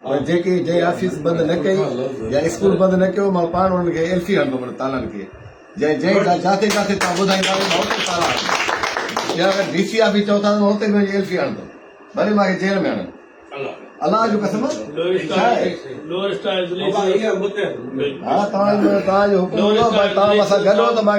پر جيڪي جنهن آفيس بند نه ڪئي يا اسڪول بند نه ڪيو مان پاڻ انهن کي ايلفي هڻندو مڙي تالن کي جنهن جنهن جا جاکي جاکي تان ٻڌائيندا وڃي مان اتي تالا هڻندو يا اگر ڊي سي آفيس چون ٿا ته مان اتي به وڃي ايلفي هڻندو ڀلي مان کي جيل ۾ هڻن الله جو قسم ڇا آهي ها توهان جو توهان جو حڪم هوندو پر توهان مون سان گڏ هو ته مان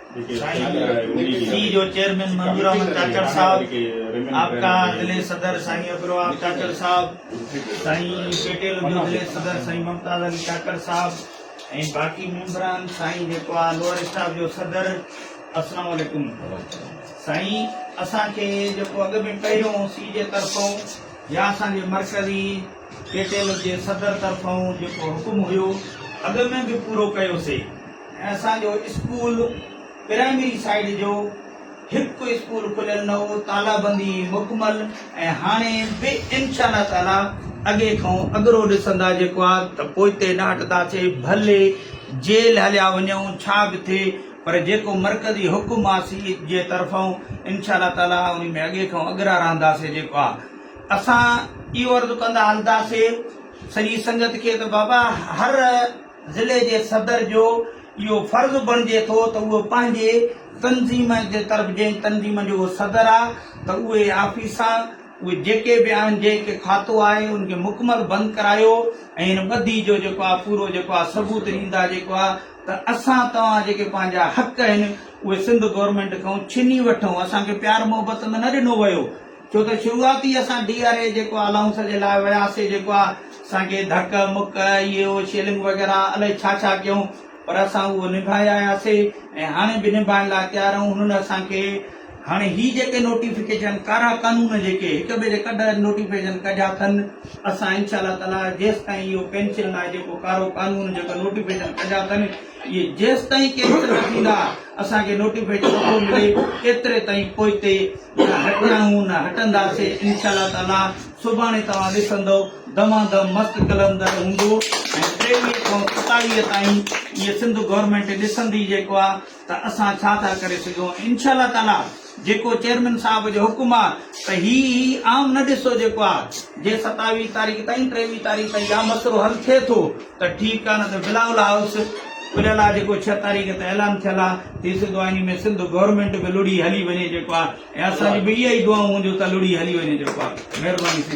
سي جو چيئرمين منظور احمد چاچڙ صاحب آپڪا ضلعي صدر سائين عبدالوهاب چاچڙ صاحب سائين پيٽيل جو ضلعي صدر سائين ممتاز علي چاچڙ صاحب ۽ باقي ميمبران سائين جيڪو آ لوئر اسٽاف جو صدر السلام عليڪم سائين اسان کي جيڪو اڳ ۾ پهريون سي جي طرفون يا اسان جي مرڪزي پيٽيل جي صدر طرفون جيڪو حڪم هيو اڳ ۾ به پورو ڪيو سي اسان جو اسڪول پرائمري سائيڊ جو هڪ اسڪول کليل نه هو، تالابندي مڪمل ۽ هاڻي به انشاء الله تعاليٰ اڳي کان اڳرو ڏسندا جيڪو آ ته پوئتي ڏاٽندا سي ڀلي جيل هليا وڃون ڇا به ٿئي پر جيڪو مرڪزي حڪم آ سي جي طرفان انشاء الله تعاليٰ انهي ۾ اڳي کان اڳرا رهندا سي جيڪو آ اسان اهو عرض ڪندا هلندا سي سڄي سنگت کي ته بابا هر ضلعي جي صدر جو اهو فرض بڻجي ٿو ته اهو پنهنجي تنظيم جي طرف جنهن تنظيم جو اهو صدر آ ته اهي آفيسان اهي جيڪي به آهن جنهن کي کاتو آهي ان کي مڪمل بند ڪرايو ۽ ان ٻڌي جو جيڪو آ پورو جيڪو آ ثبوت ڏيندا جيڪو آ ته اسان توهان جيڪي پنهنجا حق آهن اهي سنڌ گورنمينٽ کان ڇني وٺون اسان کي پيار محبت ۾ نه ڏنو ويو ڇو ته شروعات ئي اسان ڊي آر اي جيڪو الائونس جي لاء وياسي جيڪو آ اسان کي ڌڪ مڪ اهو شيلنگ وغيره الائي ڇا ڇا ڪيون پر اسان اهو نڀائي آياسي ۽ هاڻي به نڀائڻ لاء تيار آهيون هنن اسان کي هاڻي هي جيڪي نوٽيفڪيشن ڪارا قانون جيڪي هڪ ٻئي جي ڪڍ نوٽيفڪيشن ڪڍيا اٿن اسان انشاء الله تعالي جيستائين اهو پينشن لاء جيڪو ڪارو قانون جيڪو نوٽيفڪيشن ڪڍيا اٿن اهي جيستائين ڪي هيٺ نه ٿيندا اسان کي نوٽيفڪيشن نه ٿو ملي ايتري تائين پوئتي نه هٽيا آهيون نه هٽنداسي انشاء الله تعالي سڀاڻي توهان ڏسندو دما دم مست قلندر هوندو ۽ ٽيويهه کان ستاويهه تائين اهي سنڌ گورنمينٽ ڏسندي جيڪو آهي ته اسان ڇا ٿا ڪري سگهون انشاء الله تعالي جيڪو چيئرمين صاحب جو حڪم آ ته هي هي عام نه ڏسو جيڪو آ جي ستاويهه تاريخ تائين ٽيويهه تاريخ تائين يا مسئلو حل ٿئي ٿو ته ٺيڪ آ نه ته بلاول هائوس کليل آ جيڪو ڇهه تاريخ تي اعلان ٿيل آ ٿي سگهندو آ انهي ۾ سنڌ گورنمينٽ به لڙهي هلي وڃي جيڪو آ ۽ اسان جي به اها ئي دعائون هونديون ته لڙهي هلي وڃي جيڪو آ مهرباني ٿيندي.